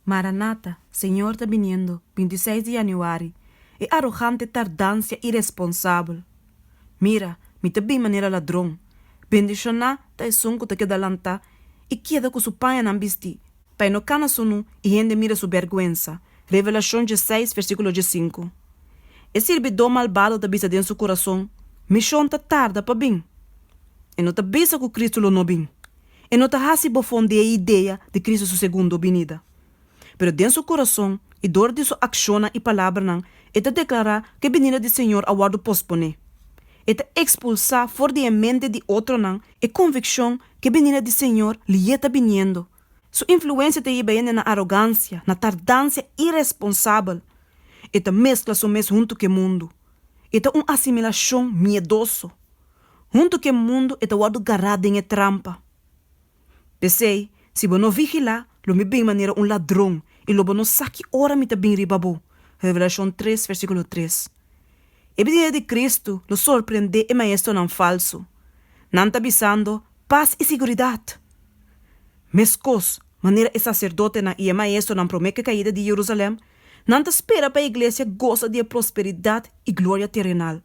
Maranata, Señor ta biniendo, binti seis di Januari, E arogante tardancia iresponsabel! Mira, mi ta bin manera ladron! Bendishoná ta esun cu ta keda lantá i keda cu su pañanan bistí, pa e no cana su nu i hende mira su bergüensa. Revelacion dieseis, versiculo diescinku. E sirbidó malbado ta bisa den su curason, Mi shon ta tarda pa bin! E no ta bisa cu Cristo lo no bin. E no ta hasi bofon di e idea di Cristo su segundo binida. Pero den su corazon i dor di su accionnan i palabranan e ta declara cu e binida di Señor a wordo pospone. E ta expulsa for di e mente di otronan e conviccion cu e binida di Señor liye ta biniendo. Su influencia ta yiba hende na arogancia, na tardancia iresponsabel. E ta mezcla su mes hunto cu e mundo. E ta un asimilacion miedoso. Huntu ku e mundu e ta wòrdu gará den e trampa. P'esei, si bo no vigilá, lo mi bin manera un ladron, i lo bo no sa ki ora mi ta bin riba bo. Revelashon tres, versíkulo tres. E binida di Kristu lo sorprendé e maestronan falsu. Nan ta bisando, Pas i siguridat! Meskos manera e saserdotenan i e maestronan promé ku e kaida di Yerusalèm, nan ta spera pa e iglesia gosa di e prosperidat i gloria terenal.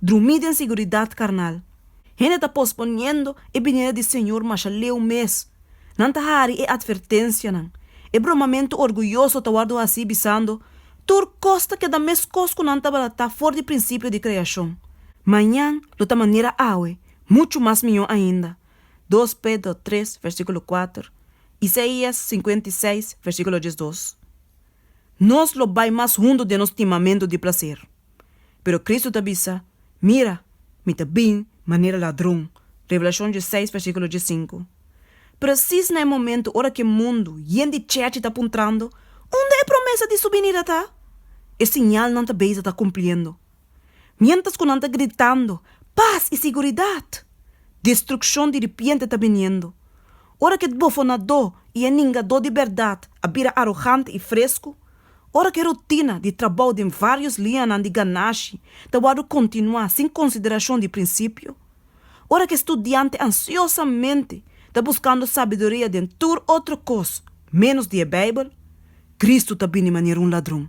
Drumí den siguridat karnal. Hende ta posponiendo e binida di Señor masha leu mes. Nan ta hari e atvertencianan. E bromamentu orguyoso ta wòrdu hací bisando, Tur cos ta keda meskos cu nan tabata ta for di principio di creacion. Mañan lo ta manera awe, muchu mas miyo ainda. Dos Pedro tres, versículo kuater, Isaías sinkuenta i seis, versíkulo diesdos. Nos lo bai mas hundu den nos stimamentu di plaser. Pero Kristu ta bisa, Mira, mi ta bin manera ladron, Revelashon diesseis versíkulo diesinku. Presis na e momentu ora ku e mundu yen di chechi ta puntrando, Unda e promesa di Su binida ta? e siñalnan ta beisha ta kumpliendo. miéntras ku nan ta gritando, Pas i siguridat! Destrukshon di ripiente ta biniendo. Ora ku e tbofonadó i e ningadó di bèrdat a bira arogante i fresku, ora ku e rutina di trabou den vários lianan di ganashi ta wòrdu kontinuá sin konsiderashon di prinsipio, ora ku e studiante ansiosamente ta buskando sabiduria den tur otro kos ménos di e Beibel, Kristu ta bini manera un ladron.